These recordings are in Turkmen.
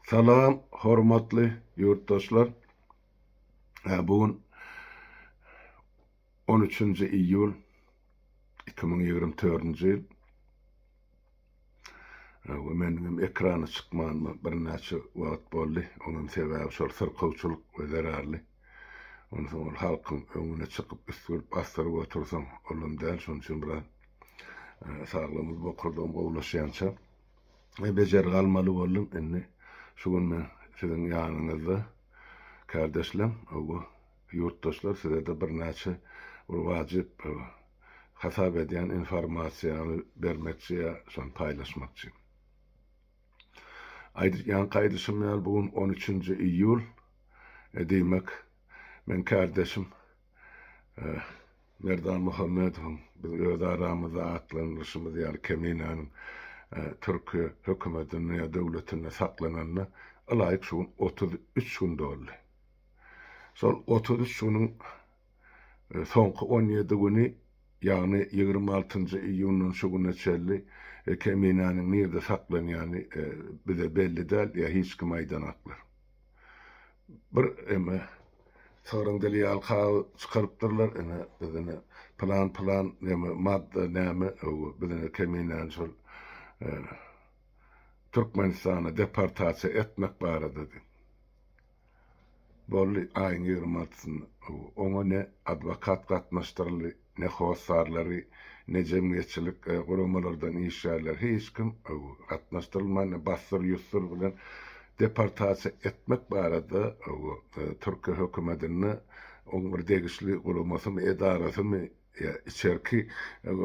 Salam hormatly ýurtdaşlar. Hä bu gün on üçünji iýul iki müň ýigrimi dördünji ýyl. Hawa meniň hem ekrana çykmanyma birnäçe wagt boldy. Onuň sebäbi şol syrkawçylyk we zerarly. Onsoň ol halkyň öňüne çykyp üsgürip basdyryp otursaň olam däl şonuň üçin biraz e, saglygymyz bokurdygym gowulaşýança we bejergi almaly boldum. Indi şu gün men siziň ýanyňyzda, kärdeşlem, bu ýurtdaşlar size-de birnäçe bir wajyp hasap edýän informasiýany bermekçi ýa şony paýlaşmakçy. Aýdyp ýaňky aýdyşym ýaly, bu gün on üçünji iýul, diýmek, meň kärdeşim Merdan Muhammedowyň Biz öz aramyzda atlandyryşymyz ýaly Keminäniň türki hökümetinde ýa döwletinde saklananyna ylaýyk şu gün otuz üç gün doldy. Şol otuz üç günüň soňky on ýedi güni, ýagny ýigrimi altynjy iýundan şu güne çenli Keminäniň nirde saklanýany bize belli däl ýa hiç kim aýdan aklar. bir eme sygryň dili ýaly kagyz çykarypdyrlar ene bizine pylan pylan neme madda näme öwü bizine keminäni şol Türkmenistana deportasiýa etmek barada diýip boldy aýyň ýigrimi altysynda oňa ne adwokat gatnaşdyryldy Ne hossarlary, ne jemgyýetçilik guramalardan işgärleri hiç kim gatnaşdyrylman, ne bassyr-ýussyr bilen deportasiýa etmek barada Türkiýe hökümetinde oň bir degişli guramasymy, edarasymy ýa içerki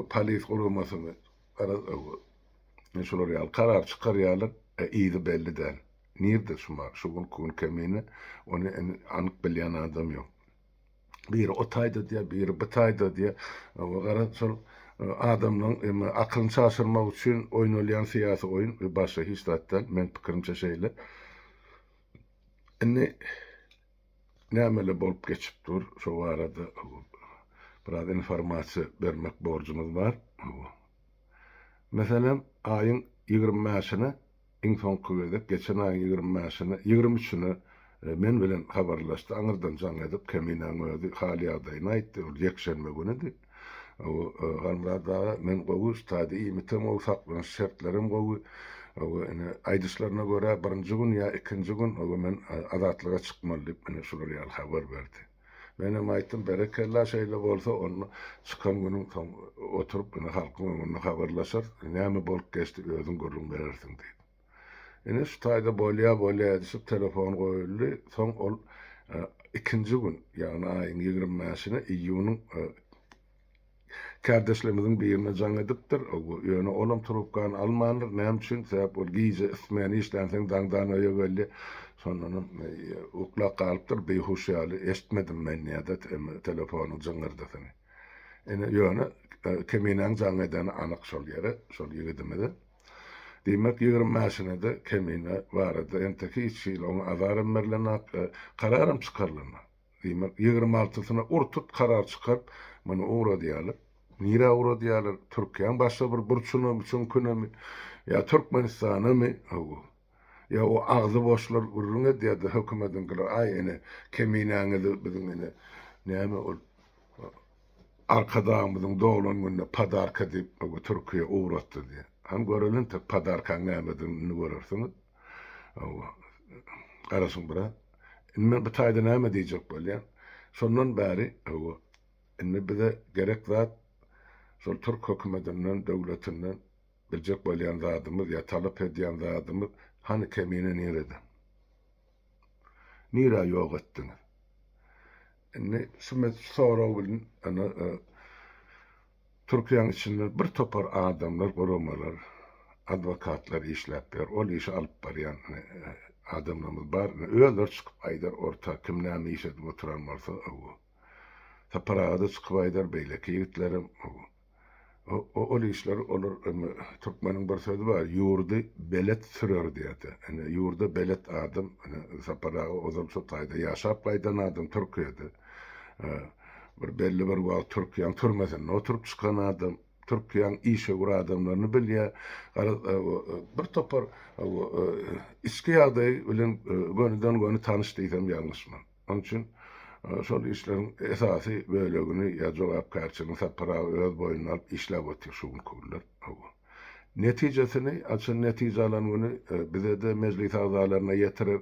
polis guramasymy şular ýaly karar çykarýarlar, yzy belli däl. Nirde şu günki gün kemine, ony anyk bilýän adam ýok. biri o taýda diýýär, biri bu taýda diýýär. Oňa gara şol e, adamlaryň emma akylyny çaşyrmak üçin oýnalýan syýasy oýun we başga hiç zat däl. Men pikirimçe şeýle. Indi nämeler bolup geçip dur, şo barada biraz informasiýa bermek borjumyz bar. Meselem, aýyň 25-ne Iň soňky gezek geçen aýyň ýigrimi bäşine, ýigrimi üçine men bilen habarlaşdy. Aňyrdan jaň edip, Keminäň özi hal-ýagdaýyny aýtdy. Ol ýekşenbe günüdi. Halmyrat aga, men gowy, stadiýa iýmitem gowy, saklanyş şertlerem gowy. Ine, aýdyşlaryna görä, birinji gün ýa ikinji gün men Azatlyga çykmaly diýip, ine, şular ýaly habar berdi. Menem aýtdym, Berekella, şeýle bolsa, onda çykan günüň soň oturyp, ine, halkyň öňünde habarlaşarys, näme bolup geçdi, özüň gürrüň berersiň diýdim. Ine, şu taýda bolýa, bolýa edişip telefon goýuldy. Soň ol ikinji gün, ýagny aýyň ýigrimi bäşine, iýunyň Kärdeşlerimiziň birine jaň edipdir, ýöne olam trubkany almandyr. Näme üçin? Sebäp ol gije smen işlänsoň daňdan öýe geldi. Şondanam uklap galypdyr, beýhuş ýaly. Eşitmedim men ýa-da telefonyň jyňňyrdysyny. Ine, ýöne Keminäň jaň edeni anyk şol ýere, şol ýigidimize. Diýmek, ýigrimi mäşine-de Kemine barada entek hiç hili oňa azaram berlenok, kararam çykarylanok. Diýmek, ýigrimi altysyna ur-tut karar çykaryp, muny ugradýarlar. Nirä ugradýarlar? Türkiýäň başga bir burçunamy, çüňkünemi? Ýa Türkmenistanamy? Hawa. Ýa o agzy boşlar gürrüň edýär-de, hökümediňkiler, aý, ine, Keminäňizi biziň, ine, näme ol, Arkadagymyzyň doglan gününe podarka diýip, Türkiýä ugratdy diýýär. Hany göreli entek podarkaň nämedigini, indi görersiňiz. Hawa, garaşyň biraz. Indi men bu taýda näme diýjek bolýan? Şondan bäri, hawa, indi bize gerek zat şol türk hökümetinden, döwletinden biljek bolýan zadymyz ýa talap edýän zadymyz, hany kemine nirede? Nirä ýok etdiňiz? Indi şu sorag bilen Türkiýäň içinde bir topar adamlar, guramalar, adwokatlar işläp ýör. Ol işi alyp barýan adamlarymyz bar. Ine, özleri çykyp aýdar orta kim näme iş edip oturan bolsa, ow. Sapar aga-da çykyp aýdar, beýleki ýigitlerem, ow. O, ol işleri olar, türkmeniň bir sözi bar, ýurdy belet sürer diýýärdi. Ine, ýurda belet adam, ine, Sapar aga ozal şo taýda ýaşap gaýdan adam Türkiýede. Bir belli bir wagt Türkiýäň türmesinde oturyp çykan adam, Türkiýäň işewür adamlaryny bilýär. Garaz, bir topar içki ýagdaýy bilen gönüden-göni tanyş diýsem ýalňyşman. Onuň üçin şol işleriň esasy bölegini ýa jogapkärçiligini Sapar aga öz boýnuna alyp işläp otyr şu günki günler. Netijesini açan netije alan güni bize-de, mejlis agzalaryna ýetirer,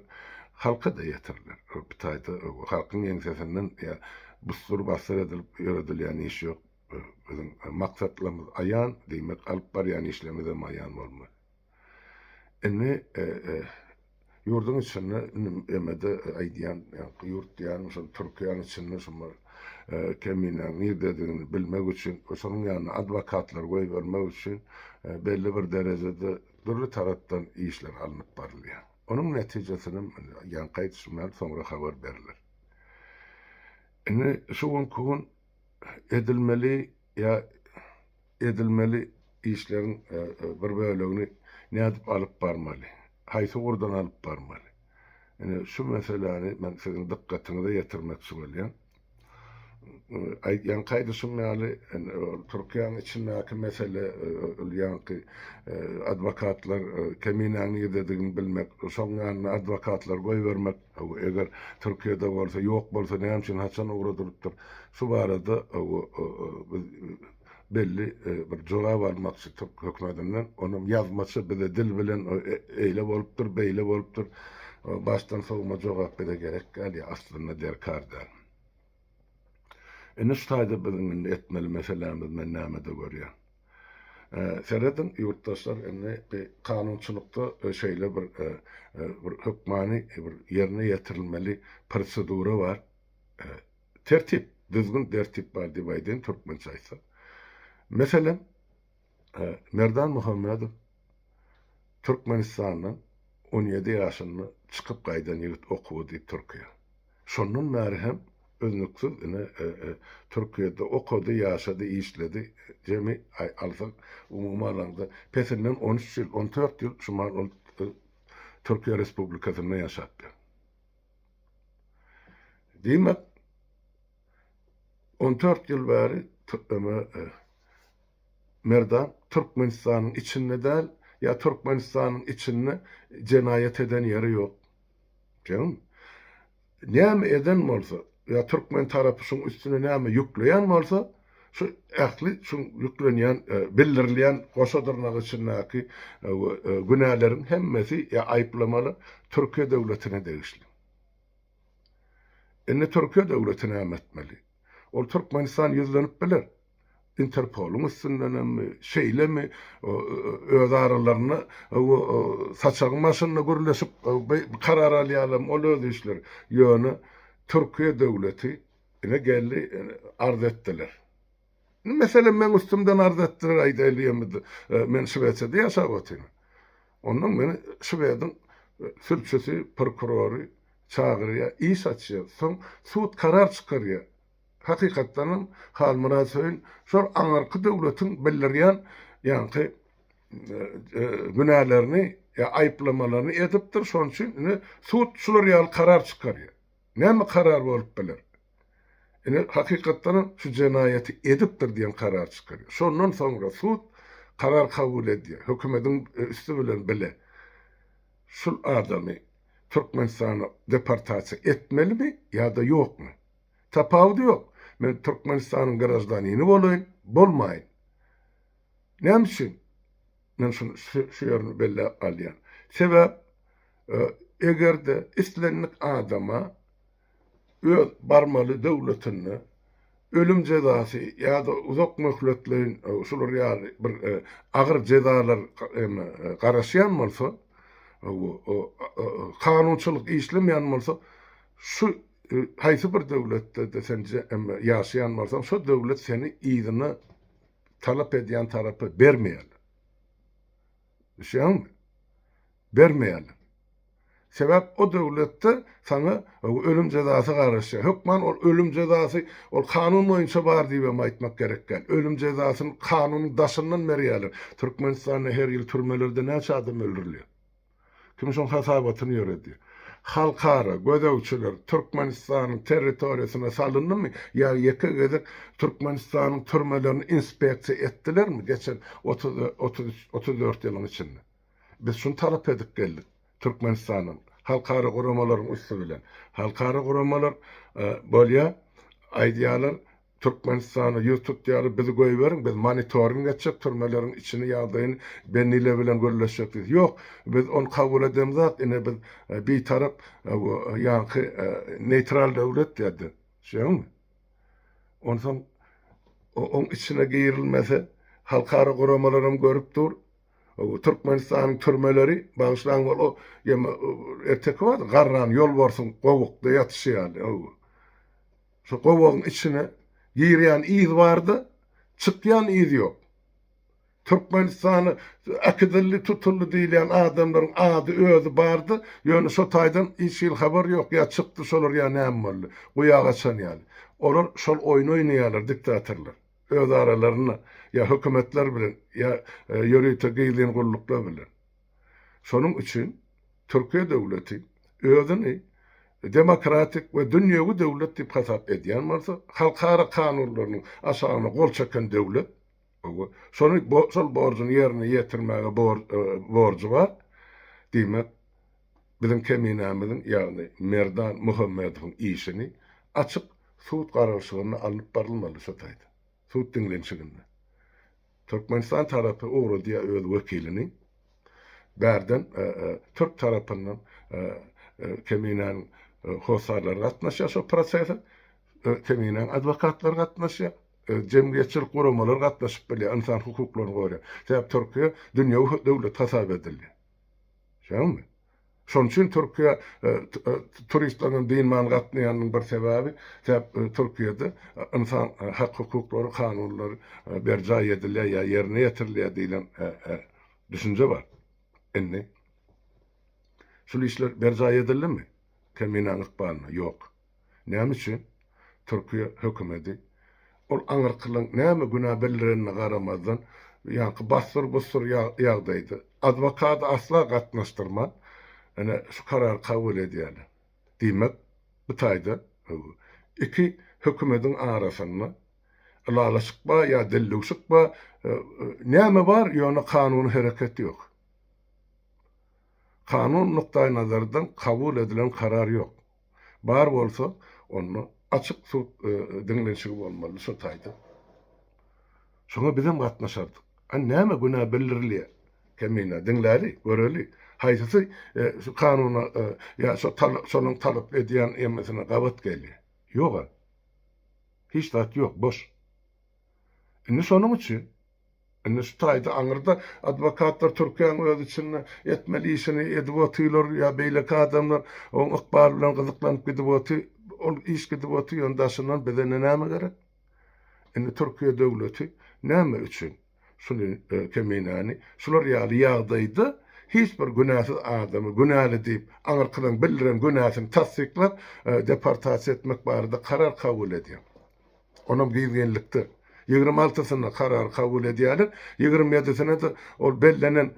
halka-da ýetiriler. Bir taýda halkyň ýeňsesinden busdur-basdyr edilip ýöredilýän iş ýok. Biziň maksatlarymyz aýan, diýmek, alyp barýan işlerimizem aýan bolmaly. Indi. Ýurduň içinde indi emede aýdýan ýaňky ýurt diýýän şol Türkiýäniň içinde şu bir keminäň nirdedigini bilmek üçin we şonuň ýanyna adwokatlar goýbermek üçin belli bir derejede dürli tarapdan işler alnyp barylýar. Onuň netijesinem indi ýaňky aýdyşym ýaly soňra habar beriler. Indi şu günki gün edilmeli ýa Edilmeli işleriň bir bölegini nädip alyp barmaly? Haýsy ugurdan alyp barmaly? Ine, şu meseläni men siziň dykgatyňyza ýetirmek üçin gelýän. Ýaňky aýdyşym ýaly, Türkiýäniň içindäki mesele, ol ýaňky adwokatlar Keminäň nirdedigini bilmek, şoň ýanyna adwokatlary goýbermek, eger Türkiýede bolsa, ýok bolsa näme üçin, haçan ugra durupdyr? Şu barada biz belli bir jogap almakçy türk hökümetinden. Onam ýazmaça bize dil bilen eýle bolupdyr, beýle bolupdyr. Başdan sowma jogap bize gerek däl ýa aslynda derkar däl. Indi şu taýda biziň indi etmeli meselämiz men nämede görýän. Serediň ýurtdaşlar indi kanunçylykda şeýle bir bir hökmany bir ýerine ýetirilmeli prosedura bar. Tertip, düzgün, dertip bar diýip aýdaýyn türkmençe aýtsak. Meselem, Merdan Muhammedow Türkmenistandan on ýedi ýaşynda çykyp gaýdan ýigit okuwa diýip Türkiýä. Şondan bäri hem üznüksiz ine Türkiýede okady, ýaşady, işledi. Jemi alsak, umumy alanda pesinden on üç ýyl, on dört ýyl şu mal ol Türkiýe Respublikasynda ýaşapdyr. Diýmek, on dört ýyl bäri Merdan Türkmenistanyň içinde däl, ýa Türkmenistanyň içinde jenaýat eden ýeri ýok. Ýagny, näme eden bolsa, ýa türkmen tarapy şuň üstüne näme ýükleýän bolsa, Şu ähli şu ýüklenýän, bildirilýän goşa dyrnak içindäki günäleriň hemmesi ýa aýyplamalar Türkiýe döwletine degişli. Indi Türkiýe döwleti näme etmeli? Ol Türkmenistan ýüzlenip biler. Interpolyň üstündenemmi, şeýlemi, öz aralarynda saçagyň başynda gürleşip karar alýarlarmy, ol öz işleri. Ýöne Türkiýe döwleti Ine geldi arz etdiler. Meselem men üstümden arz etdiler aýdaýly ýöne men Şwesiýada ýaşap otyryn. Ondan meni Şwediň sülçüsi, prokurory çagyrýar, iş açýar. Soň sud karar çykarýar. Hakykatdan hem Halmyrat Söýün şol aňyrky döwletiň bildirýän ýaňky günälerini ýa aýyplamalaryny edipdir. Şonuň üçin indi sud şular ýaly karar çykarýar. Näme karar bolup biler? Ine, hakykatdanam şu jenaýaty edipdir diýen karar çykarýar. Şondan soňra sud karar kabul edýär, hökümediň üsti bilen bile şul adamy Türkmenistana deportasiýa etmelimi ýa-da ýokmy? Tapawudy ýok, men Türkmenistanyň graždanini bolaýyn, bolmaýyn. Näme üçin? Men şu ýerini belläp galýan. Sebäp eger-de islendik adama öz barmaly döwletinde ölüm jezasy ýa-da uzak möhletleýin şular ýaly bir agyr jezalar garaşýan bolsa, kanunçylyk işlemeýän bolsa, şu haýsy bir döwletde-de sen ýaşaýan bolsaň, şo döwlet seni yzyna talap edýän tarapa bermeýärler. Düşüniňmi? Bermeýärler. Sebäp o döwletde saňa ölüm jezasy garaşýar. Hökman ol ölüm jezasy ol kanun boýunça bar diýip hem aýtmak gerek däl. Ölüm jezasyny kanunyň daşyndan berýärler. Türkmenistanda her ýyl türmelerde näçe adam öldürilýär? Kim şoň hasabatyny ýöredi? Halkara gözegçiler Türkmenistanyň territoriýasyna salyndymy ýa ýeke gezek Türkmenistanyň türmelerini inspeksiýa etdilermi geçen otuz, otuz üç, otuz dört ýylyň içinde? Biz şuny talap edip geldik Türkmenistandan, halkara guramalaryň üsti bilen. Halkara guramalar bolýar, aýdýarlar, Türkmenistana ýüz tutýarys bizi goýberiň biz monitoring etjek türmeleriň içini ýagdaýyny Benile bilen gürleşjek diýdi ýok biz ony kabul edemzok ine biz bitarap ýaňky neýtral döwlet diýdi şeýdimi onsoň oň içine girilmese halkara guramalaram görüp dur Türkmenistanyň türmeleri bagyşlaň wol o ýa erteki bardy garran ýolbarsyň gowukda ýatyşy ýaly öwü. Şu gowagyň içine girýän yz barda, çykýan yz ýok. Türkmenistana äkidildi, tutuldy diýilýän adamlaryň ady, özi barda, ýöne şo taýdan hiç hili habar ýok, ýa çykdy şolar ýa näme boldy. Guýa gaçan ýaly. Olar şol oýny oýnaýarlar, diktatorlar. Öz aralarynda, ýa hökümetler bilen, ýa ýörite gizlin gulluklar bilen. Şonuň üçin Türkiýe döwleti özüni demokratik we dünýewi döwlet diýip hasap edýän bolsa, halkara kanunlarynyň aşagyna gol çeken döwlet, oba, şony şol borjuny ýerine ýetirmäge borjy bar. Diýmek, biziň Keminämiziň, ýagny Merdan Muhammedowyň işini açyk sud garalyşygynda alnyp barylmaly şu taýda, sud diňlenişiginde. Türkmenistan tarapy ugradýar öz wekilini. Bärden türk tarapyndan Keminäniň hossarlary gatnaşýar şol prosese. Keminäniň adwokatlary gatnaşýar. Jemgyýetçilik guramalary gatnaşyp bilýär, ynsan hukuklaryny goraýan. Sebäbi Türkiýe dünýewi döwlet hasap edilýär. Şeýdami? Şonuň üçin Türkiýä turistleriň dynman gatnaýanynyň bir sebäbi, sebäp Türkiýede ynsan hak-hukuklary, kanunlary berjaý edilýär ýa ýerine ýetirilýär diýlen düşünje bar. Indi şul işler berjaý edildimi? Keminäň ykbalyna? Ýok. Näme üçin? Türkiýe hökümedi ol aňyrkylyň näme günä bildirenine garamazdan, ýaňky bassyr-bussyr ýagdaýda, adwokady asla gatnaşdyrman, ine, şu karary kabul edýärler. Diýmek, bu taýda iki hökümediň arasynda ylalaşyk bar ýa dildüwşük bar, näme bar, ýöne kanuny hereket ýok. Kanun nukdaýnazardan kabul edilen karar ýok. Bar bolsa, onda açyk sud diňlenişigi bolmalydy şo taýda. Şoňa bizem gatnaşardyk. A näme günä bildirilýär? Kemine, diňläli, göreli, haýsysy şu kanuna ýa şo şonuň talap edýän ýemesine gabat gelýär? Ýog-a. Hiç zat ýok, boş. Indi şonuň üçin. Indi şu taýda aňyrda adwokatlar Türkiýäň öz içinde etmeli işini edip otylar ýa beýleki adamlar oň ykbaly bilen gyzyklanyp gidip oty ol iş gidip oty ýöne daşyndan bize indi näme gerek? Indi Türkiýe döwleti näme üçin şuny keminäni şular ýaly ýagdaýda hiç bir günäsiz adamy günäli diýip aňyrkydan bildiren günäsini tassyklap deportasiýa etmek barada karar kabul edýär? Onam gyz gelnikde. Ýigrimi altysyna karary kabul edýärler. Ýigrimi ýedisine-de ol bellenen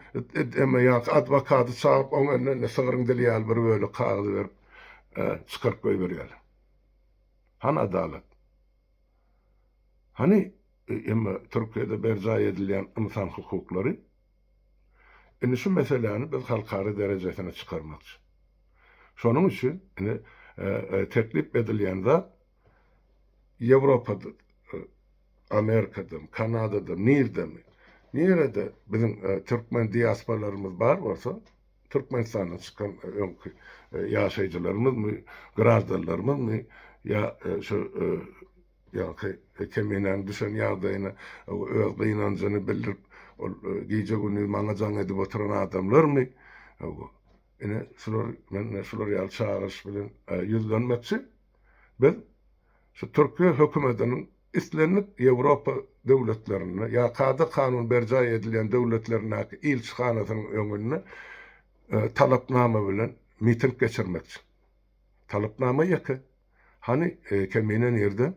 eme ýa-da adwokady çagyryp, oň eline indi sygryň dili ýaly bir bölek kagyz berip, çykaryp goýberýärler. Hany adalat? Hany eme Türkiýede berjaý edilýän ynsan hukuklary? Indi şu meseläni biz halkara derejesine çykarmakçy. Şonuň üçin indi teklip edilýän zat, Ýewropada, Amerikadan, Kanadadan, nirden, nirede biziň türkmen diasporalarymyz bar bolsa, Türkmenistandan çykan öňki ýaşaýjylarymyzmy, graždanlarymyzmy ýa şu ýaňky Keminäniň düşen ýagdaýyna öz gynanjyny bildirip, ol gije-gündiz maňa jaň edip oturan adamlarmy, ine şular, men şular ýaly çagyryş bilen ýüzlenmekçi. Biz şu türki hökümetiniň islendik Ýewropa döwletlerinde ýa kada kanun berjaý edilýän döwletlerindäki ilçihanasynyň öňünde talapnama bilen miting geçirmekçi. Talapnama ýeke. Hany Kemine nirde?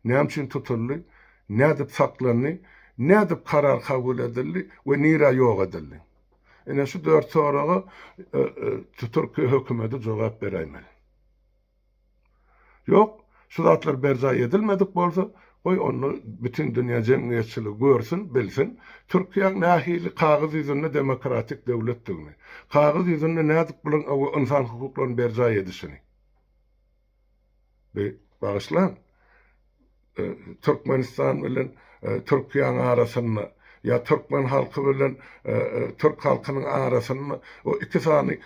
Näme üçin tutuldy? Nädip saklandy? Nädip karar kabul edildi we nirä ýok edildi? Ine şu dört soraga Türkiýe hökümeti jogap beräýmeli. Ýok, şu zatlar berjaý edilmedik bolsa, goý onda bütin dünýä jemgyýetçiligi görsün, bilsin, Türkiýäň nähili kagyz ýüzünde demokratik döwletdigini, kagyz ýüzünde nädip bularyň ynsan hukuklaryny berjaý edişini. Bi bagyşlaň. Türkmenistan bilen Türkiýäň arasynda ýa türkmen halky bilen türk halkynyň arasynda o iki sany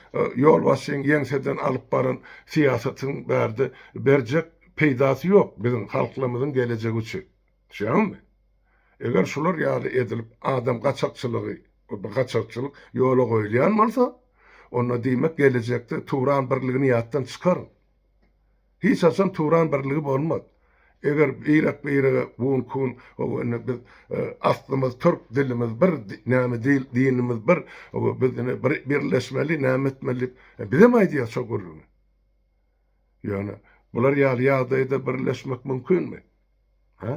ýolbaşçyň ýeňseden alyp baran syýasatyň bärde berjek peýdasy ýok biziň halklarymyzyň gelejegi üçin. Düşýäňizmi? Eger şular ýaly edilip adam gaçakçylygy we gaçakçylyk ýola goýulýan bolsa, onda diýmek gelejekde Turan birligini ýatdan çykaryň. Hiç haçan Turan birligi bolmaz. Eger birek-birege gun kun ow indi biz aslymyz türk dilimiz bir näme dil dinimiz bir ow biz indi birleşmeli näme etmeli diýip bizem aýdýar şo gürrüňi. Ýöne bular ýaly ýagdaýda birleşmek mümkinmi? Hä?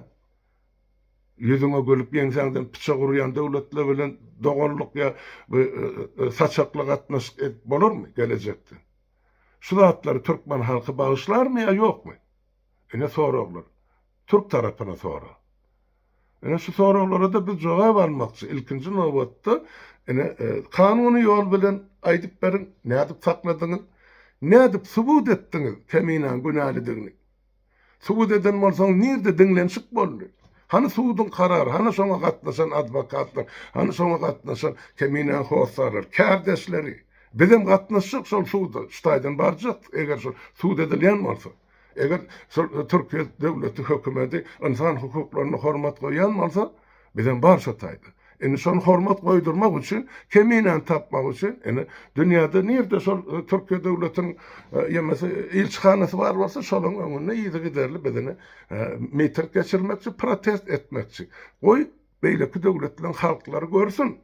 Ýüzüňe gülüp, ýeňsäňden pyçak urýan döwletler bilen doganlyk ýa saçakly gatnaşyk edip bolarmy gelejekde? Şu zatlary türkmen halky bagyşlarmy ýa ýokmy? Ine soraglar. Türk tarapyna sorag. Ine şu soraglara-da biz jogap almakçy. Ilkinji nobatda, ine, kanuny ýol bilen aýdyp beriň, nädip sakladyňyz? Nädip subut etdiňiz Teminäň günälidigini? Subut eden bolsaňyz, nirde diňlenişik boldy? Hany suduň karary, hany şoňa gatnaşan adwokatlar, hany şoňa gatnaşan Teminäň hossarlary, kärdeşleri? Bizem gatnaşjak şol suda, şu taýdan barjak, eger şol sud edilýän bolsa. Eger şol Türkiýe döwleti hökümedi ynsan hukuklaryna hormat goýýan bolsa, bizem bar şo taýda. Indi şony hormat goýdurmak üçin, keminäni tapmak üçin, indi dünýäde nirde şol Türkiýe döwletiniň ýemese ilçihanasy bar bolsa, şolaryň öňünde yzygiderli biz indi miting geçirmekçi, protest etmekçi. Goý, beýleki döwletleriň halklary görsün,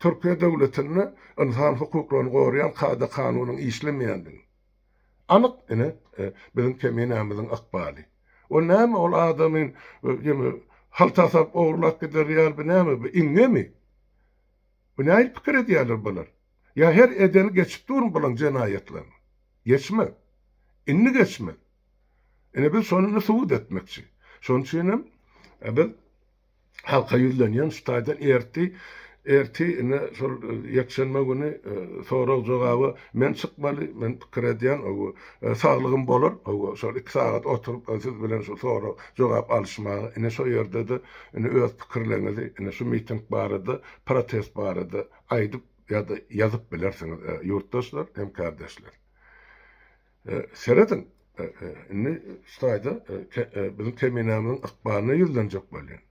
Türkiýe döwletinde ynsan hukuklaryny goraýan kada-kanunyň işlemeýändigini. Anyk ine biziň keminämiziň ykbaly. O näme ol adamy ýene haltasap ogurlap gider ýaly bu näme bu iňňemi? Bu nähili pikir edýärler bular? Ýa her edeni geçip durmy bulaň jenaýatlaryny? Geçmez. Indi geçmez. Ine biz şony indi subut etmekçi. Şonuçinem biz halka ýüzlenýän şu taýdan erti erti ine şol ýekşenbe güni sorag jogaba men çykmaly men pikir edýän owo saglygym bolar owo şol iki sagat oturyp siz bilen şu sorag jogap alyşmaga ine şo ýerde-de ine öz pikirleňizi ine şu miting barada protest barada aýdyp ýa-da ýazyp bilersiňiz ýurtdaşlar hem kärdeşler. Serediň, indi şu taýda biziň Keminämiziň ykbalyna ýüzlenjek bolýan.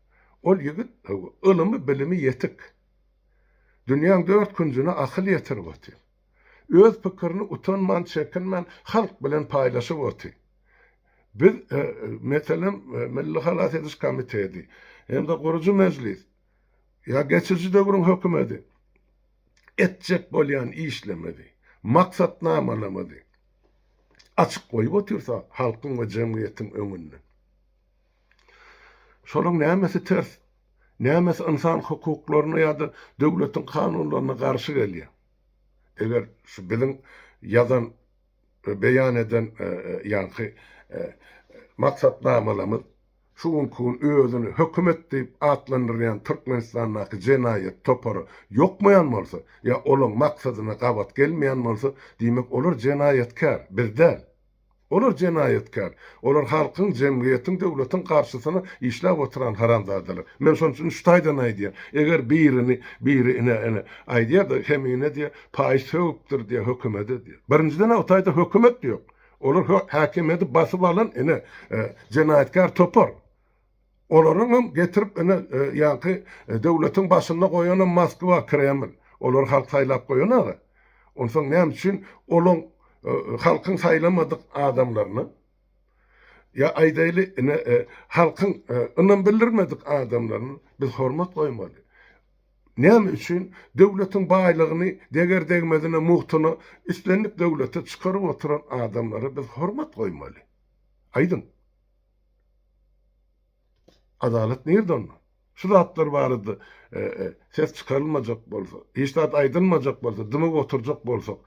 Ol ýigit ylymy, bilimi ýetik. Dünýäň dört künjüne akyl ýetirip otyr. Öz pikirini utanman, çekinmän halk bilen paýlaşyp otyr. Biz, meselem, Milli halas ediş komiteti hem-de gurujy mejlis ýa geçiji döwrüň hökümeti, etjek bolýan işlerimizi, maksatnamalarymyzy açyk goýup otyrsak halkyň we jemgyýetiň öňünde, şolaryň nämesi ters, nämesi ynsan hukuklaryna ýa-da döwletiň kanunlaryna garşy gelýär? Eger şu biziň ýazan we beýan eden ýaňky maksatnamalarymyz, Şu günki gün özüni hökümet diýip atlandyrýan Türkmenistandaky jenaýat topary ýokmaýan bolsa, ýa olaň maksadyna gabat gelmeýän bolsa, diýmek olar jenaýatkär, biz däl. Olar jenaýatkär. Olar halkyň, jemgyýetiň, döwletiň garşysyna işläp oturan haramzadalar. Men şonuň üçin üç taýdan aýdýan. Eger birini biri ine, ine, aýdýar-da, Kemine diýýär, paýyş sögüpdir diýýär hökümede diýýär. Birinjiden-ä o taýda hökümet ýok. Olar häkimiýeti basyp alan ine jenaýatkär topar. Olaryň hem getirip ine ýaňky döwletiň başynda goýanam Moskwa, Kreml. Olary halk saýlap goýan aga. Onsoň näme üçin olaň halkyň saýlamadyk adamlaryny ýa aýdaýly ine halkyň ynam bildirmedik adamlaryny biz hormat goýmaly? Näme üçin döwletiň baýlygyny deger-degmezine, mugtyna islendik döwlete çykaryp oturan adamlara biz hormat goýmaly? Aýdyň! Adalat nirde onda? Şu zatlar barada ses çykarylmajak bolsa, hiç zat aýdylmajak bolsa, dymyp oturjak bolsak,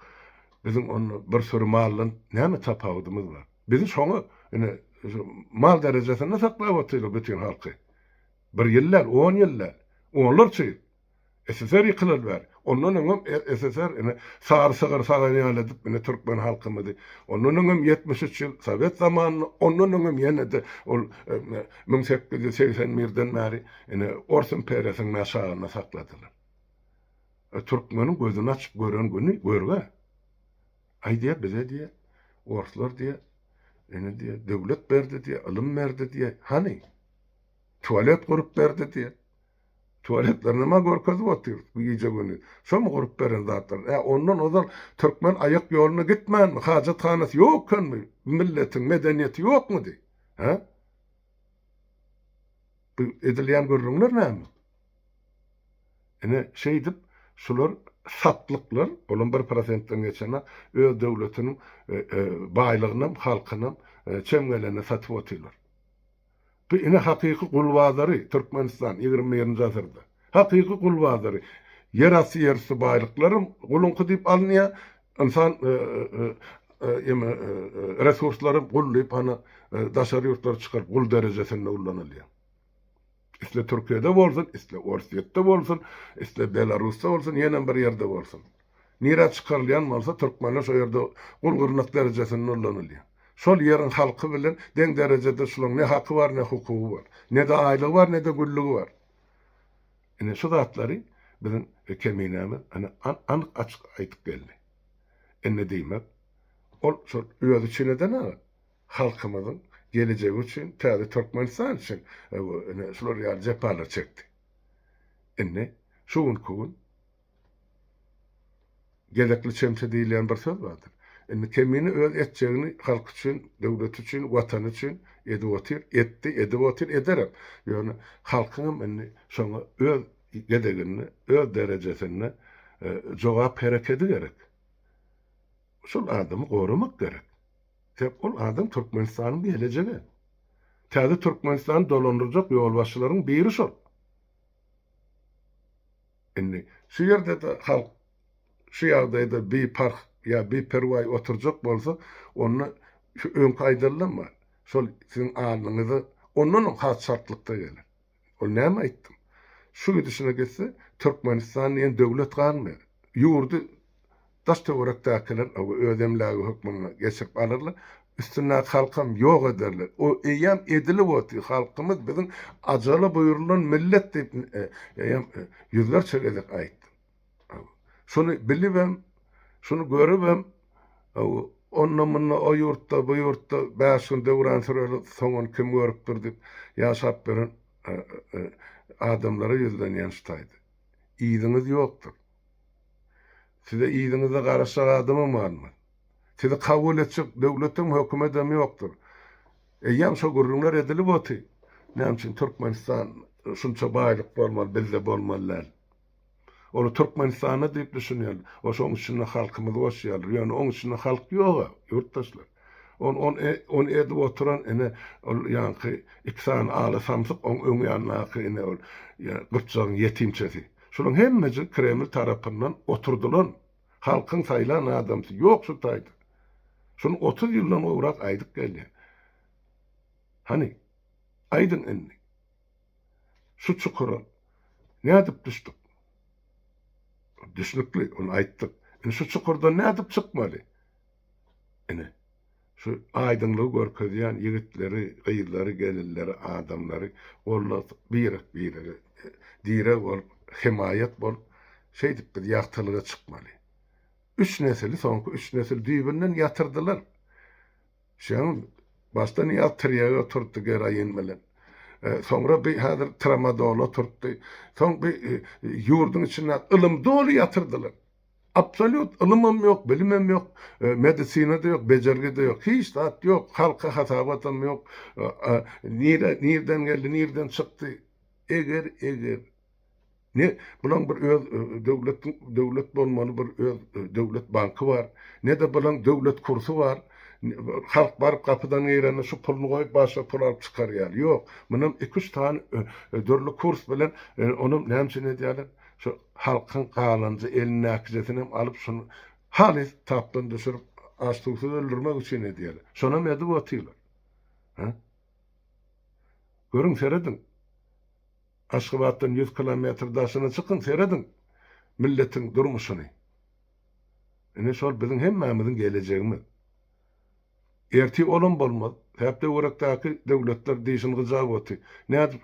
biziň onda bir süri maldan näme tapawudymyz bar? Bizi şoňa, ine, mal derejesinde saklap otyrlar bütin halky. Bir ýyl däl, on ýyl däl, onlarça ýyl. SSR ýykylan bäri. Ondan öňem SSR ine sary sygyr sagan ýaly edip ine türkmen halkymyzy ondan öňem ýetmiş üç ýyl sowet zamanynda ondan öňem ýene-de ol müň sekiz ýüz segsen birden bäri ine ors imperiýasynyň aşagynda sakladylar. E türkmeniň gözüni açyp gören güni görgä. Aý diýýär bize diýýär orslar diýýär ine diýýär döwlet berdi diýýär ylym berdi diýýär hany? Tualet gurup berdi diýip. Tualetlerini ma görkezip otyr bu gije güni. Şomy gurup beren zatlar. Ä ondan ozal türkmen aýak ýoluna gitmänmi? Hajathanasy ýok ekenmi? Bu milletiň medeniýeti ýokmudy? Hä? Bu edilýän gürrüňler näme? Ine şeýdip şular satlyklar, olam bir prosentden geçenok, öz döwletiniň baýlygynam, halkynam çem gelende satyp otyrlar. Bu ine hakyky gul bazary Türkmenistan ýigrimi birinji asyrda. Hakyky gul bazary. Ýerasty ýerüsti baýlyklaram guluňky diýip alynýar. Ynsan eme resurslaram gul diýip hany daşary ýurtlara çykaryp gul derejesinde ullanylýar. Isle Türkiýede bolsun, isle Orsýetde bolsun, isle Belarusda bolsun, ýenem bir ýerde bolsun. Nirä çykarylýan bolsa türkmenler şo ýerde gul gyrnak derejesinde ullanylýar. Şol ýeriň halky bilen deň derejede şulaň ne haky bar ne hukugy bar. Nede aýlygy bar nede gülligi bar. Ine şu zatlary biziň keminämiz ine anyk açyk aýdyp geldi. Indi diýmek ol şol özi üçin eden aga halkymyzyň gelejegi üçin täze türkmenistan üçin ine şular ýaly jepalar çekdi. Indi şu günki gün Gezekli çemçe diýilýän bir söz bardyr. Indi Kemine öz etjegini halky üçin, döwleti üçin, watany üçin edip otyr, etdi, edip otyr, ederem. Ýöne halkyňam indi şoňa öz gezeginde, öz derejesinde jogap herekedi gerek. Şol adamy goramak gerek. Sebäp ol adam Türkmenistanyň gelejegi. Täze Türkmenistany dolandyrjak ýolbaşçylaryň biri şol. Indi, şu ýerde-de halk şu ýagdaýda biparh ýa biperwaý oturjak bolsa, onda şu öňki aýdalydan bar, şol siziň alnyňyza ondanam has çaltlykda geler. Ol näme aýtdym? Şu gidişine gitse, Türkmenistan diýen döwlet galmaýar. Ýurdy Daş-töwerekdäkiler oba öz emlägi hökmünde geçirip alyrlar. Üstündäki halkam ýok ederler. O eýýäm edilip otyr. Halkymyz biziň ajala buýrulan millet diýip, eýýäm ýüzlerçe gezek aýtdym. Şuny bilibem, şuny görübem, onda-munda o ýurtda, bu ýurtda bäş gün döwran süreli soňuny kim görüpdir diýip, ýaşap beren adamlara ýüzlenýän şu taýda. Yzyňyz ýokdur. Size yzyňyzda garaşjak adamam galmaz. Sizi kabul etjek döwletem, hökümedem ýokdur. Eýýäm şo gürrüňler edilip oty. Näme üçin Türkmenistan şunça baýlyk bolmaly, bizde bolmaly däl? Ol Türkmenistanda diýip düşünýärler. Ol şoň içinde halkymyzy goşýarlar. Ýöne oň içinde halk ýog-a, ýurtdaşlar. Ol, ol, e, ol edip oturan, ine, ol ýaňky iki sany ala samsyk, oň öň ýanyndaky, ine, ol, ýa, gypjagyň ýetimçesi. Şolaň hemmesi Kreml tarapyndan oturdylan, halkyň saýlan adamsy ýok şu taýda. Şuny otuz ýyldan gowrak aýdyp gelýän. Hany, aýdyň indi. Şu çukura nädip düşdük? Düşnükli, ony aýtdyk. Indi şu çukurdan nädip çykmaly? Ine, şu aýdyňlygy görkezýän ýigitleri, gyzlary, gelinleri, adamlary golda birek-birege direg bolup, hemaýat bolup, şeýdip biz ýagtylyga çykmaly. Üç nesili, soňky üç nesil düýbünden ýatyrdylar. Şeýle başda Nyýaz tirýege oturtdy geroin bilen. Soňra bi häzir tramadol oturtdy. Soň bi ýurduň içinde ylym doly ýatyrdylar. Absolýut ylymam ýok, bilimem ýok, medisinada ýok, bejergide ýok, hiç zat ýok, halka hasabatam ýok, nire nirden geldi, nirden çykdy, eger, eger, ne bulaň bir öz döwletiň döwlet bolmaly bir öz döwlet banky bar, ne-de bulaň döwlet kursy bar, halk baryp gapydan girende şu puluny goýup başga pul alyp çykar ýaly, ýok, munam iki-üç sany dürli kurs bilen onam näme üçin edýärler, şo Halkyň galanja elindäkijesinem alyp şony halys tapdan düşürip aç suwsuz öldürmek üçin edýäler. Şonam edip otyrlar. Hä? Görüň serediň. Aşgabatdan ýüz kilometr daşyna çykyň serediň milletiň durmuşyny. Ine şol biziň hemmämiziň gelejegimiz. Ertir olam bolmaz. Säpdöwerekdäki döwletler dişini gyjap oty. Nädip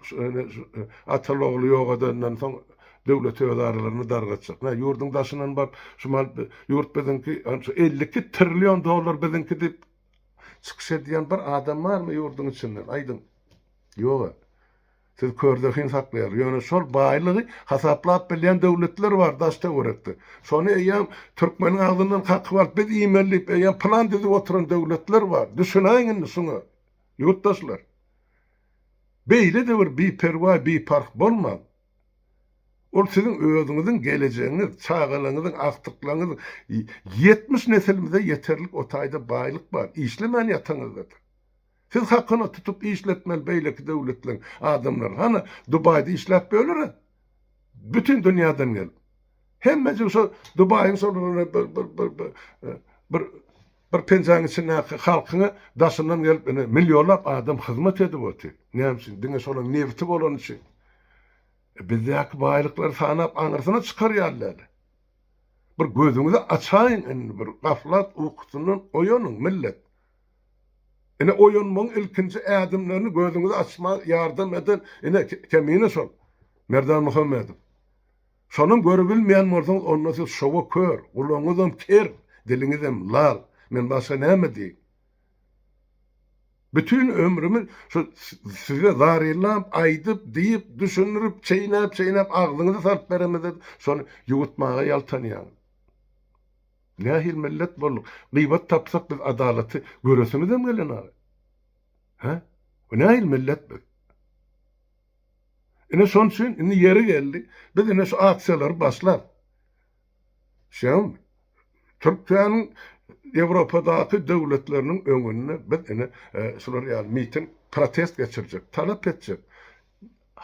ataly-ogly ýogadandan soň döwlet öz aralaryny dargatjak. Nä, ýurduň daşyndan baryp, şu mal ýurt biziňki, şu elli iki trillion dollar biziňki diýip çykyş edýän bir adam barmy ýurduň içinden? Aýdyň. Ýog-a. Siz körde hyn saklaýar. Ýöne şol baýlygy hasaplap bilýän döwletler bar daş töwerekde. Şony eýýäm türkmeniň agzyndan kakyp alyp biz iýmeli diýip eýýäm plan düzüp oturan döwletler bar. Düşünäýiň indi şuňa. Ýurtdaşlar. Beýlede bir biperwaý, biparh bolmaň. Ol siziň özüňiziň gelejegiňiz, çagalaňyzyň, agtyklaňyzyň ýetmiş nesilimize ýeterlik o taýda baýlyk bar. Işlemän ýataňyzdadyr. Siz hakyna tutup işletmeli beýleki döwletleriň adamlary hany dubaýda işläp bölere bütin dünýäden gelip hemmejik şo dubaýyň şol bir bir bir bir bir e, bir bir penjaň içindäki halkyňa daşyndan gelip ine millionlap adam hyzmat edip otyr näme üçin diňe şolaň nebiti bolany üçin e, bizdäki baýlyklary sanap aňyrsyna çykarýarlar bir gözüňizi açaýyň indi bir gaflat ukusyndan oýanyň millet Ine oýanmagyň ilkinji ädimlerini gözüňizi açmaga ýardam eden ine Kemine şol Merdan Muhammedow. Şonam görübilmeýän bolsaňyz onda siz şowa kör, gulagyňyzam ker, diliňizem lal. Men başga näme diýiň. Bütin ömrümi şu size zarylap, aýdyp, diýip, düşündirip, çeýnäp-çeýnäp agzyňyzy salyp beremizede şony ýuwutmaga ýaltanýaňyz. Nähili millet bolduk? Gyýbat tapsak biz adalaty göresiňizem gelenok. Hä? Bu nähili millet biz? Ine şonuň üçin indi ýeri geldi, biz indi şu aksiýalary başlap. Şeýdem Türkiýäniň Ýewropadaky döwletleriniň öňünde biz indi şular ýaly miting, protest geçirjek, talap etjek.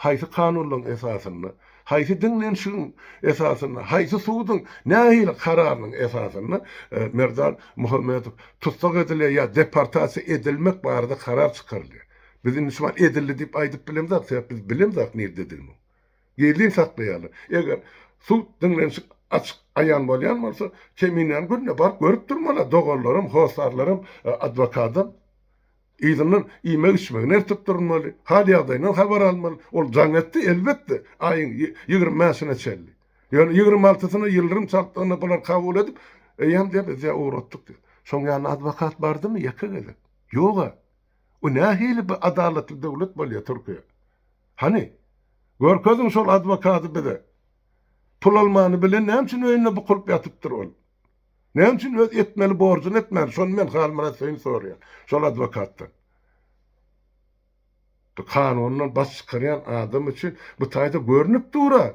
Haýsy kanunlaryň esasynda, haýsy diňlenişigiň esasynda, haýsy suduň nähili kararynyň esasynda Merdan Muhammedow tussag edilýär ýa deportasiýa edilmek barada karar çykarylýar? Biz indi şu wagt edildi diýip aýdyp bilemzok, sebäp biz bilemzok nirde edilmegini. Gizlin saklaýarlar. Eger sud, diňlenişik açyk, aýan bolýan bolsa, Keminäni günde baryp görüp durmaly, doganlaram, hossarlaram, adwokadam. Yzyndan iýmek-içmegi nertip durulmaly, hal-ýagdaýyndan habar almaly. Ol jaň etdi, elbetde, aýyň ýigrimi bäşine çenli. Ýöne ýigrimi altysyna ýyldyrym çakdygyny bular kabul edip, Eýýäm diýip, biz ýa ugratdyk diýip. Şoň ýaly adwokat bardymy ýeke gezek? Ýog-a. Bu nähili bir adalatly döwlet bolýa Türkiýe? Hany, görkeziň şol adwokady bize. Pul almany bilen näme üçin öýünde bukulyp ýatypdyr ol? Näme üçin öz etmeli borjuny etmän, şony men Halmyrat Söýün soraýan, şol adwokatdan. Bu kanundan baş çykarýan adam üçin bu taýda görnüp dur-a,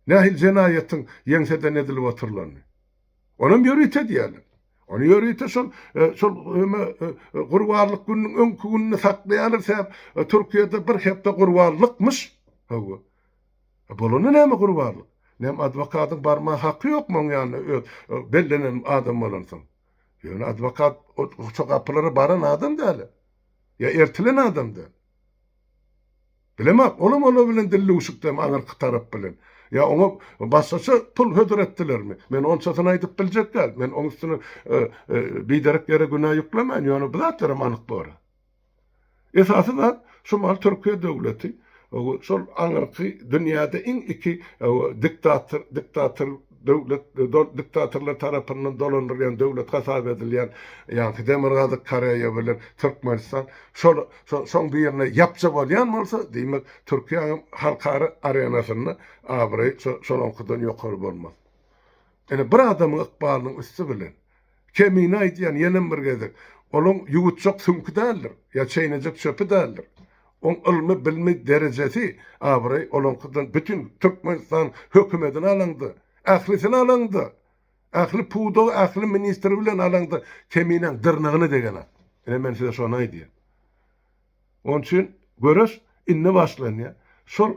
nähili jenaýatyň ýeňseden edilip otyrlany. Onam ýörite diýýärler. Ony ýörite şol, şol gurbanlyk gününiň öňki gününe saklaýarlar sebäp Türkiýede bir hepde gurbanlykmyş. Hawa. A bolanda näme gurbanlyk? Näme adwokatyň barmaga haky ýokmy oň ýanyna öz bellenen adam bolansoň? Ýöne adwokat ol şo gapylara baran adam däl-ä. Ýa ertilen adam däl. Bilemok, olam olar bilen dillüwşükdemi aňyrky tarap bilen? Ýa oňa başgaça pul hödür etdilermi? Men onçasyny aýdyp biljek däl. Men oň üstüne biderek ýere günä ýüklemäýin, ýöne bu zatlaram anyk bor-a. Esasy zat şumal Türkiýe döwleti şol aňyrky dünýäde iň iki diktator diktator döwlet diktatorlar tarapyndan dolandyrylýan döwlet hasap edilýän ýaňky Demirgazyk Koreýa bilen Türkmenistan şol şoň birine ýapja bolýan bolsa diýmek Türkiýäniň halkara arenasynda abraýy şolaňkydan ýokary bolmaz. Ine bir adamyň ykbalynyň üsti bilen Kemine aýdýan ýenem bir gezek. Olaň ýuwutjak süňki däldir, ýa çeýnejek çöpi däldir. Oň ylmy, bilmi, derejesi, abraýy olaňkydan bütin Türkmenistan hökümedini alaňda, ählisini alaňda, ähli pudagy, ähli ministri bilen alaňda keminäň dyrnagyna degenok. Ine men size şony aýdýan. Oň üçin göreş indi başlanýar. Şol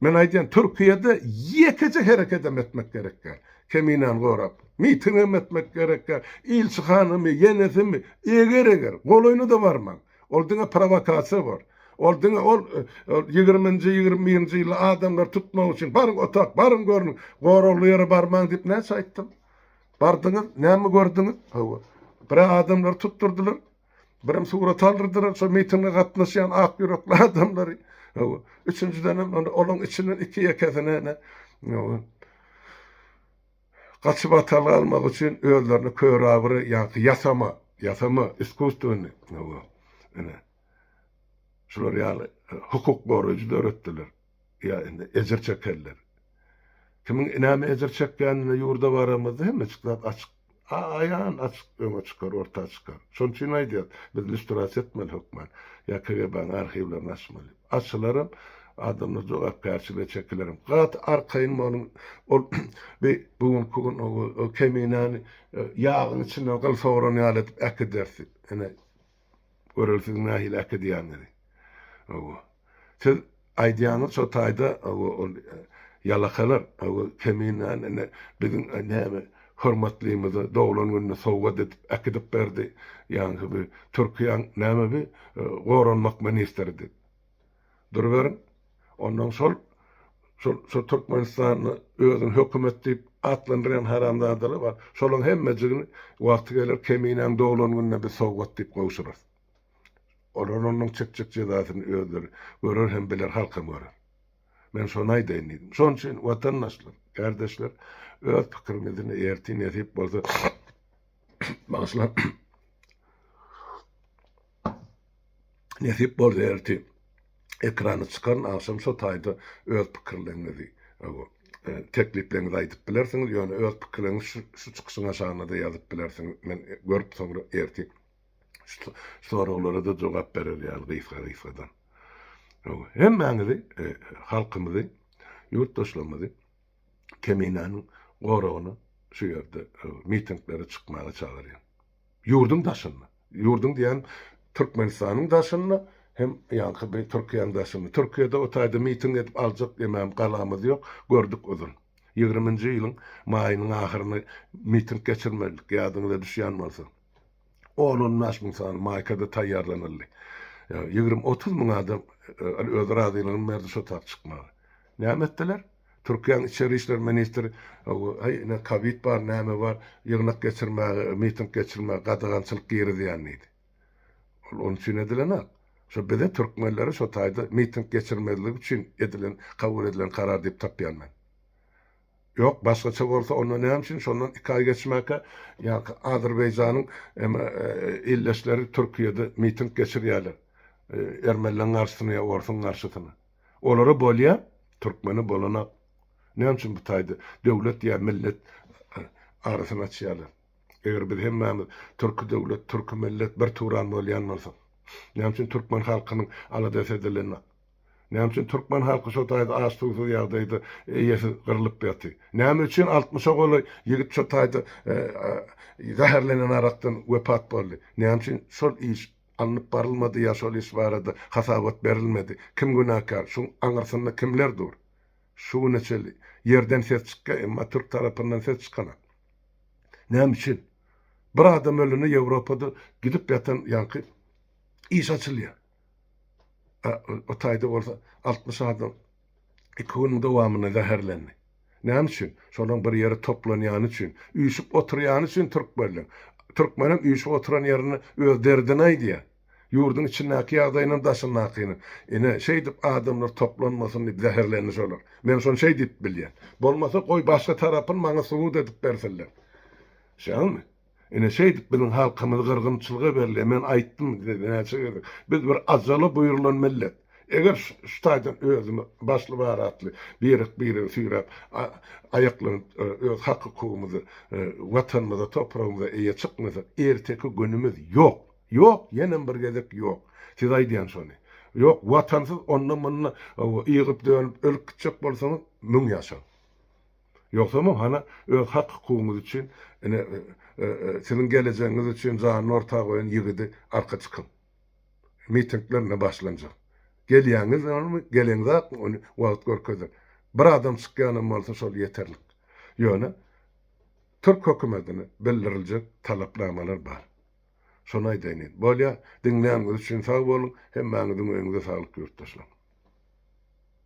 men aýdýan Türkiýede ýekeje herekedem etmek gerek däl. Keminäni gorap, mitingem etmek gerek däl. Ilçihanamy, ýenesimi, eger eger, golaýyna-da barmaň. Ol diňe prowokasiýa bor. Ol diňe ol ýigriminji, ýigrimi birinji ýylda adamlary tutmak üçin baryň otak, baryň görüň, goragly ýere barmaň diýip näçe aýtdym. Bardyňyz, näme gördüňiz? Hawa. Birä adamlary tutdurdylar. Birim surat aldyrdylar, şo mitinge gatnaşýan ak ýürekli adamlary. Üçünjiden hem olaň içinden iki-ekesini ene gaçyp atal almak üçin özlerini körabyry ýa-da ýasama, ýasama iskusstwony. Ene. Şular ýaly hukuk goraýjy döretdiler. Ýa indi ejir çekerler. Kimiň näme ejir çekýänine ýurda baramyzda hemmeçik zat açyk, aýan açyk öňe çykar, orta çykar. Şonuň üçin aýdýas, biz lýustrasiýa etmeli hökman. Ýa KGB-nyň arhiwlerini açmaly. Açylaram, adamlar jogapkärçilige çekilerem. Gaty arkaýyn boluň, ol bi bu günki gün o keminäni ýagyň içinden gyl sogran ýaly edip äkidersi. Ine, Göreli siziň nähili äkidýäniňizi. Hawa. Siz aýdýaňyz şo taýda hawa ol ýalakalar hawa keminäni ine biziň näme hormatlymyza doglan gününe sowgat edip äkidip berdi ýaňky bir türkiýäň näme bir goranmak ministridi. Duruberiň. Onnoň şol, şol, şo Türkmenistanda özüni hökümet diýip atlandyrýan haramzadalar bar. Şolaň hemmejigini wagty geler Keminäň doglan gününe biz sowgat diýip gowşurarys. Olar onnoň çekjek jezasyny özleri görer hem biler, halkam görer. Men şony aýdaýyn diýdim. Şon üçin watandaşlar, gardeşler öz pikirimizni ertir nesip bolsa bagyşlaň. Nesip bolsa ertir ekrana çykaryn agşam şo taýda öz pikirleriňizi tekliplerňizi aýdyp bilersiňiz ýöne öz pikirleriňizi şu çykyşyň aşagynada ýazyp bilersiňiz men görüp soňra ertir şu soraglarada jogap berer ýaly gysga gysgadan hemmäňizi halkymyzy ýurtdaşlarymyzy keminäniň goragyna şu ýerde mitinglere çykmaga çagyrýan. Ýurduň daşynda, ýurduň diýýän Türkmenistanyň daşynda hem ýaňky bir Türkiýäň daşynda, Türkiýede o taýda miting edip aljak demem galamyz ýok, gördük uzyn. Ýigriminji ýylyň maýynyň ahyryny miting geçirmedik, ýadyňyza düşýän bolsa. On-on bäş müň sany maýkada taýýarlanyldy. Ýa ýigrimi-otuz müň adam öz razylygyny berdi şo tagt çykmaga. Näme etdiler? Türkiýäň içeri işler ministri Heý, ine, kowid bar, näme bar, ýygnak geçirmäge, miting geçirmäge gadagançylyk girizýän diýdi. Ol onuň üçin edilenok. Şo bize, türkmenlere şo taýda miting geçirmezlik üçin edilen, kabul edilen karar diýip tapýan men. Ýok, başgaça bolsa, onda näme üçin şondan iki aý geçmäkä, ýa-ha Azerbaýjanyň eme ildeşleri Türkiýede miting geçirýärler, ermenleň garşysyna ýa orsuň garşysyna. Olara bolýa, türkmene bolanok. Näme üçin bu taýda döwlet ýa millet arasyny açýarlar? Eger biz hemmämiz türki döwlet, türki millet bir turan bolýan bolsak, näme üçin türkmen halkynyň aladasy edilenok? Näme üçin türkmen halky şo taýda aç-suwsuz ýagdaýda eýesiz gyrlyp ýaty? Näme üçin altmyşa golaý ýigit şo taýda zäherlenen arakdan wepat boldy? Näme üçin şol iş Alnyp barylmady ýa şol iş barada hasabat berilmedi? Kim günäkär? Şuň aňyrsynda kimler dur? Şu güne çenli ýerden ses çykýar, emma türk tarapyndan ses çykanok. Näme üçin? Bir adam ölende Ýewropada gidip ýatan ýaňky iş açylýar. A o taýda bolsa altmyş adam Iki günüň dowamynda zäherlendi. Näme üçin? Şolaryň bir ýere toplanýany üçin, üýşüp oturýany üçin türkmenleň. Türkmenem üýşüp oturan ýerinde öz derdini aýdýar. Ýurduň içindäki ýagdaýynam, daşyndakynam. Ine, şeýdip adamlar toplanmasyn diýip zäherlendi şolar. Men şony şeý diýip bilýän. Bolmasa goý başga tarapyny maňa subut edip bersinler. Şeýdami? Ine şeýdip biziň halkymyz gyrgynçylyga berilýär. Men aýtdym size näçe gezek. Biz bir ajala buýrulan millet. Eger şu taýdan özümiz başly baratly birek-biregi süýräp, aýaklanyp öz hak-hukugymyzy Watanymyza, topragymyza eýe çykmasak, erteki günümiz ýok. Ýok, ýenem bir gezek ýok. Siz aýdýan şony. Ýok, Watansyz onda-munda ygyp-dönüp ölüp gitjek bolsaňyz, müň ýaşaň. Ýogsamam hany öz hak-hukugyňyz üçin, ine, siziň gelejegiňiz üçin janyny orta goýan ýigidi arka çykyň. Mitingler ine başlanjak. Gelýäňizmi, geleňzakmy, ony wagt görkezer. Bir adam çykýanam bolsa şol ýeterlik. Ýöne türk hökümetine bildiriljek talapnamalar bar. Şony aýdaýyn diýdim. Bolýar, diňläniňiz üçin sag boluň, hemmäňiziň öýüňize saglyk ýurtdaşlar.